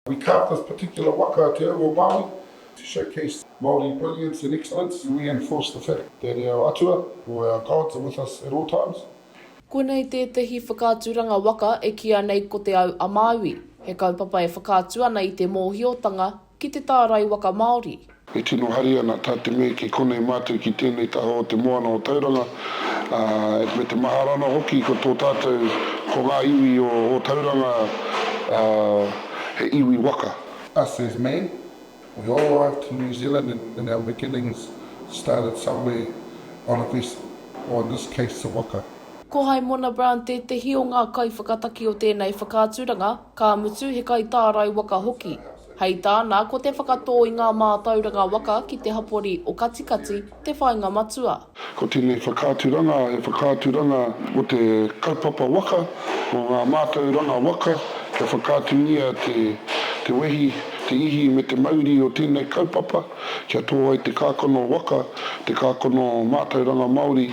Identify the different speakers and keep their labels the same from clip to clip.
Speaker 1: We carved this particular waka, Te Au o Māui, to showcase Māori brilliance and excellence and reinforce the fact that our atua or our gods are with us at all times. Konei
Speaker 2: tētehi whakaaturanga waka e kīia nei ko Te Au a Māui, he kaupapa e whakaatu ana i te mōhiotanga ki te tārai waka Māori, E tino hari
Speaker 1: ana tā te mea ki konei mātou ki tēnei taha o te moana o Tauranga, ā, me te mahara ana hoki ko tō tātou, ko ngā iwi o Ōtauranga, ā, he iwi waka. Us as me, we all arrived to New Zealand and our beginnings started somewhere on a vessel, or in this case a waka. Ko Haimona
Speaker 2: Brown tētehi o ngā kaiwhakataki o tēnei whakaaturanga. Ka mutu he kaitārai waka hoki. Hei tāna, ko te whakatō i ngā mātauranga waka ki te hapori o Katikati te whāinga matua. Ko tēnei
Speaker 1: whakaaturanga he whakaaturanga o te kaupapa waka, o ngā mātauranga waka, kia whakaatungia te wehi, te ihi me te mauri o tēnei kaupapa, kia tō ai te kākano waka, te kākano mātauranga Māori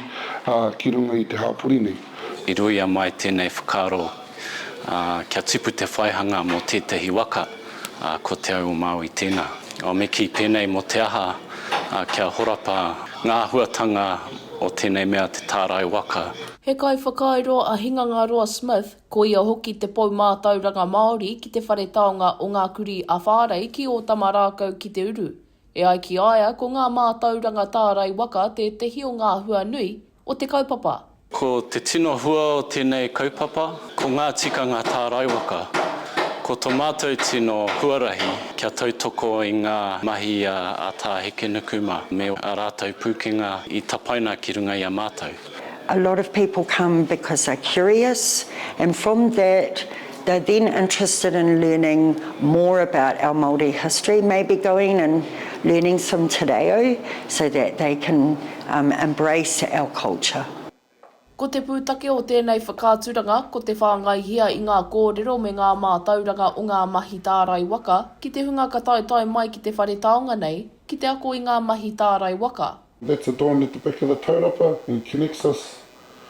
Speaker 1: ki runga i te hapori nei. I ruia mai
Speaker 3: tēnei whakaaro kia tipu te whaihanga mō tētahi waka, ā, ko Te Au-o-Māui tēnā. Me kī pēnei mō te aha, ā, kia horapa ngā āhuatanga o tēnei mea te tārai waka. He kaiwhakairo
Speaker 2: a Hingangaroa Smith, ko ia hoki te pou mātauranga Māori ki te Whare Taonga o Ngā Kurī a Whārei ki Ōtamarākau ki te uru. E ai ki a ia, ko ngā mātauranga tārai waka tētehi o ngā hua nui o te kaupapa. Ko te tino
Speaker 3: hua o tēnei kaupapa, ko ngā tikanga tārai waka. Ko tō mātou tino huarahi kia tautoko i ngā mahi a Tā Hekenuku mā me ā rātou pūkenga i tapaina ki runga i a mātou. A lot of
Speaker 4: people come because they're curious and from that they're then interested in learning more about our Māori history, maybe going and learning some te reo so that they can embrace our culture. Ko te
Speaker 2: pūtake o tēnei whakaaturanga ko te whāngaihia i ngā kōrero me ngā mātauranga o ngā mahi tārai waka ki te hunga ka taetae mai ki te whare taonga nei ki te ako i ngā mahi tārai waka, That's a dawn at the
Speaker 1: back of the taurapa and connects us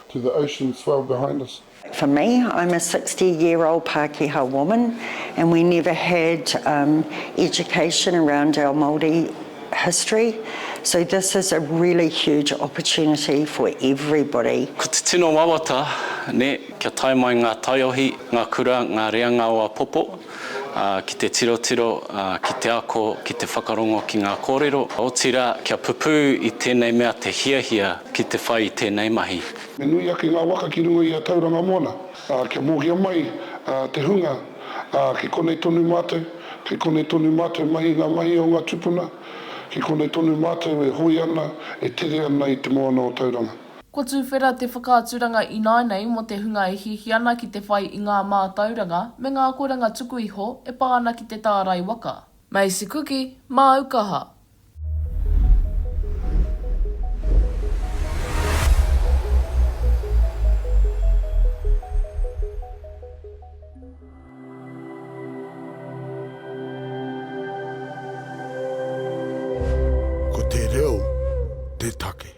Speaker 1: to the ocean swell behind us. For me, I'm
Speaker 4: a sixty year old Pakeha woman and we never had education around our Māori history, so this is a really huge opportunity for everybody. Ko te tino
Speaker 3: wawata, nē, kia tae mai ngā taiohi, ngā kura, ngā reanga o apopo, ki te tirotiro, ki te ako, ki te whakarongo ki ngā kōrero, otirā kia pupū i tēnei mea te hiahia ki te whai i tēnei mahi. Me nui ake ngā
Speaker 1: waka ki runga i a Tauranga Moana, ā, kia mōhio mai te hunga, ā, kei konei tonu mātou, kei konei tonu mātou mahi ngā mahi o ngā tupuna, kei konei tonu mātou e hoi ana, e tere ana i te moana o Tauranga. Ko Tuwhera te
Speaker 2: whakaaturanga ināinei mō te hunga e hiahia ana ki te whai i ngā mātauranga me ngā akoranga tuku iho e pā ana ki te tārai waka. Macy Kuki, māu kaha.
Speaker 1: Ko te reo te take.